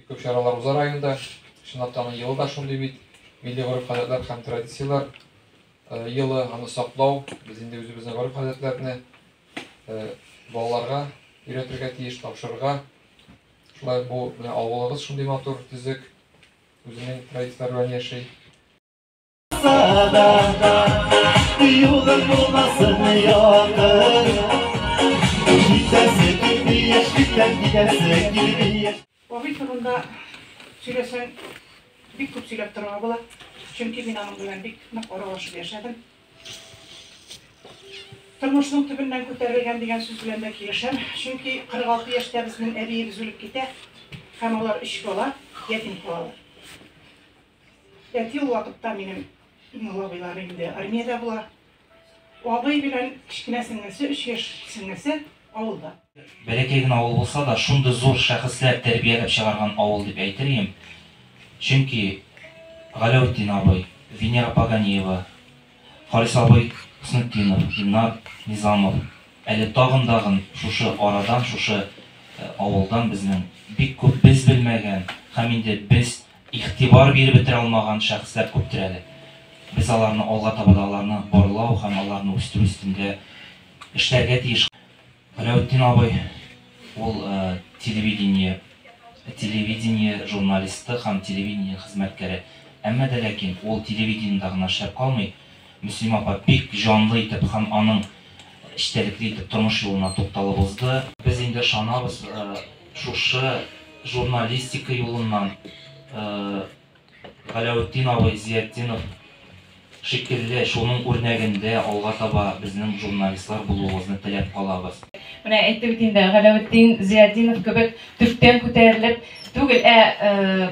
Күп чаралар уза районда. Чынлап та елы да шундый бит. Милли гореф-гадәтләр һәм традицияләр елы, аны саклау, без инде үзебезнең гореф-гадәтләрне балаларга өйрәтергә тиеш, тапшырырга. Шулай бу менә авылыбыз шундый матур, төзек, үзенең традицияләре белән яши. Абый турында сөйләсәң, бик күп сөйләп торырга була. Чөнки мин аның белән бик нык аралашып яшәдем. Тормышның төбеннән күтәрелгән дигән сүз белән дә килешәм. Чөнки 46 яшьтә безнең әбиебез үлеп китә һәм алар өч бала ятим калалар. Әти ул вакытта минем иң олы абыйлар инде армиядә була. Абый белән кечкенә сеңлесе, өч яшь сеңлесе авылда. Бәләкәй генә авыл булса да, шундый зур шәхесләр тәрбияләп чыгарган авыл дип әйтер идем. Чөнки Галәүтдин абый, Венера Паганиева, Харис абый Хөснетдинов, Илнар Низамов, әле тагын-дагын шушы арадан, шушы авылдан безнең бик күп без белмәгән һәм инде без Игътибар биреп бетерә алмаган шәхесләр күптер әле. Без аларны алга таба да аларны барлау һәм аларны үстерү өстендә эшләргә тиеш. Галәүтдин абый, ул телевидение телевидение журналисты һәм телевидение хезмәткәре. Әмма дә ләкин ул телевидениедә гына эшләп калмый. Мөслимә апа бик җанлы итеп һәм аның эчтәлекле итеп тормыш юлына тукталып узды. Без инде ышанабыз. Шушы журналистика юлыннан Галәүтдин абый Зиятдинов шикелле, шуның үрнәгендә алга таба безнең журналистлар булуыгызны теләп калабыз. Менә әйтте бит инде, Галәүтдин Зиятдинов кебек төптән күтәрелеп түгел, ә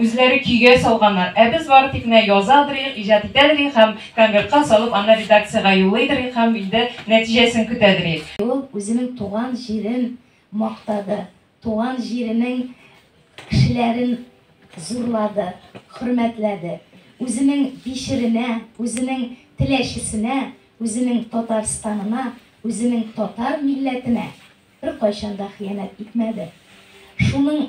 Үзләре көйгә салганнар, ә без бары тик менә язадырыйк, иҗат итәдерик һәм конвертка салып, аны редакциягә юллыйдырыйк һәм инде нәтиҗәсен көтәдерик. Ул үзенең туган җирен мактады, туган җиренең кешеләрен зурлады, хөрмәтләде. Үзенең Бишеренә, үзенең Теләчесенә, үзенең Татарстанына, үзенең татар милләтенә беркайчан да хыянәт итмәде. Шуның.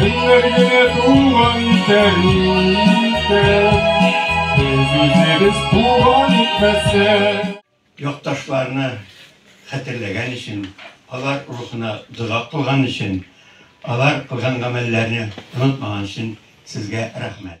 Көннәргә туган тәризә, Без үзебез туган итмәсә. Якташларны хәтерләгән өчен, алар рухына дога кылган өчен, алар кылган гамәлләрне онытмаган өчен сезгә рәхмәт.